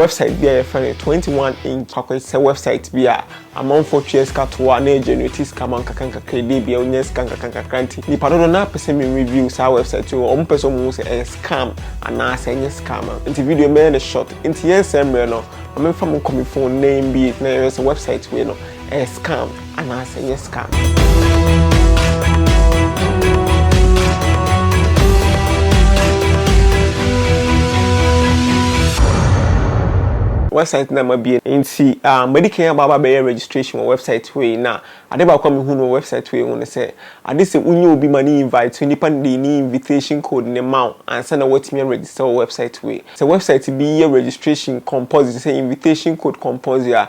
Wɛbsaet bi a yɛfrɛ no Twenty One Inch akwansisɛm wɛbsaet bi a amanfoɔ tua sika to hɔ a na ɛgenerate sika ma nkakrankakra ɛdeɛ bia ɔnya sika nkakrankakra nti nnipa dodoɔ no ara pɛ sɛ me review saa wɛbsaet yi wɔn pɛ sɛ wɔn hu sɛ ɛyɛ scam anaa sɛ ɛnyɛ scam a nti video yi mɛyɛ no short nti yɛnsɛe mmerɛ no ma memfa mo nkɔ me phone na yɛmbie na yɛhwɛ sɛ wɛbsaet wei no ɛyɛ scam Anaasɛ ɛyɛ scam? Website na mabie nti um, madi kan aba aba bɛyɛ registration wɔ website hɔ yi na ade baako a mehu no wɔ website hɔ yi ho ne sɛ ade sɛ wonyɛ obi ma ne invite nipa no de ne invitation code ne ma wo ansa na woatumi aregister wɔ website hɔ yi. Sɛ website bi yɛ registration compulsory te sɛ invitation code compulsory a,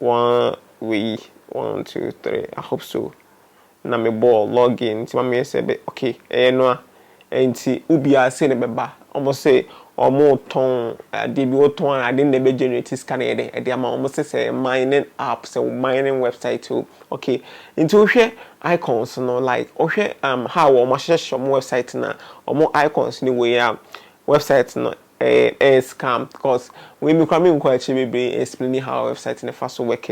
Waa wei one two three I hope so na me bɔɔ log in nti ma me yɛ sɛ bɛ okay ɛyɛ no a ɛnti wo biaa sei na ɛbɛba ɔmo se ɔmo tɔn adeɛ bi wo tɔn a adeɛ no na ɛbɛ generate sika na ɛyɛ dɛ ɛde ama wo ɔmo se sɛ mining app sɛ wo mining website o okay nti wo hwɛ icons no like wo hwɛ um how ɔmo ahyehyɛ ɔmo website no a ɔmo icons no wei a website no Ɛyɛ ɛyɛ scam cause wei me koraa menkɔ akyire bebree explaining how website no fa so work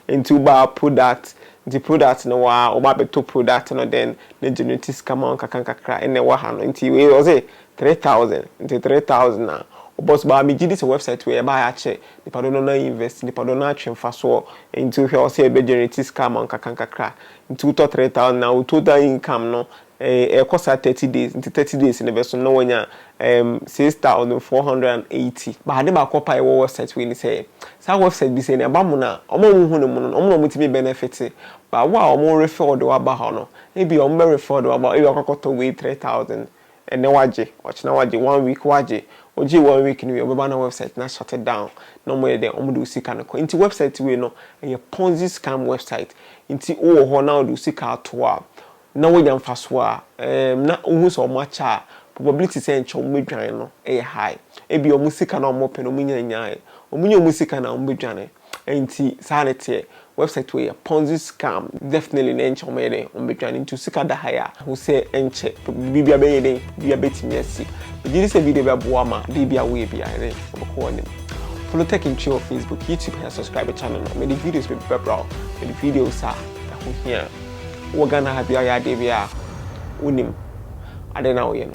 nti wo ba product nti product no wɔ ha wo ba bɛtɔ product no then na generate sika ma wo nkakra nkakra ɛna ɛwɔ ha no nti wei ɔse three thousand nti three thousand a wo bɔ so but me gye di sɛ website wei ɛba ha akyɛ nipa dodoɔ no ara invest nipa dodoɔ no ara atwe mfasoɔ nti wo hwɛ ɔse ɛbɛ generate sika ama wo nkakra nkakra nti wo tɔ three thousand a wo total income no Ɛkɔ saa thirty days nti thirty days no bɛso no na wanya ɛɛm six thousand four hundred and eighty. But ade baako paa a ɛwɔ website wei ne sɛ saa website bi sɛ nea ɛba mono a wɔn a wɔhu no mono no wɔn na wɔtumi benefit but wo a wɔn refer de wo aba hɔ no ebia wɔn bɛ refer de wo aba hɔ ebia wakɔ akɔtɔ wei three thousand ɛnɛ wagye ɔkyena wagye one week wagye ogyee one week no wie ɔbɛba na website no ashut down na wɔn yɛ dɛn wɔn de wo sika no kɔ nti website wei no ɛyɛ ponzi scam website nti wo wɔ hɔ na wɔde wo sika ato hɔ a na wɔnya mfasoɔ a, ɛɛm na wohu sɛ wɔn akyɛ a, probability sɛ nkyɛ wɔn bɛdwane no yɛ high. Ebia wɔn sika no a wɔpɛ no wɔnya nyaeɛ. Wɔnya wɔn sika no a, wɔn bɛdwane. Ɛnti saa na ɛteɛ. Website wei yɛ ponzi scam. Definitely na nkyɛ wɔn bɛyɛ dɛn? Wɔn bɛdwane. Nti wo sika da ha yi a, hu sɛ nkyɛ biribiara bɛyɛ dɛn? Biribiara bɛtumi asi. Megye di sɛ video yi bɛboa wo ma adeɛ biara a woyɛ biara yɛ dɛn? Wobɛkɔ w'anim. Follow Tech in Twi wɔ Facebook, YouTube, na subscribe channel no. Mede videos bebree bɛbra wo. Mede videos a ɛho hia. Wɔ Ghana ha bia ɔyɛ adeɛ bia a wonim adeɛ na woyɛ no.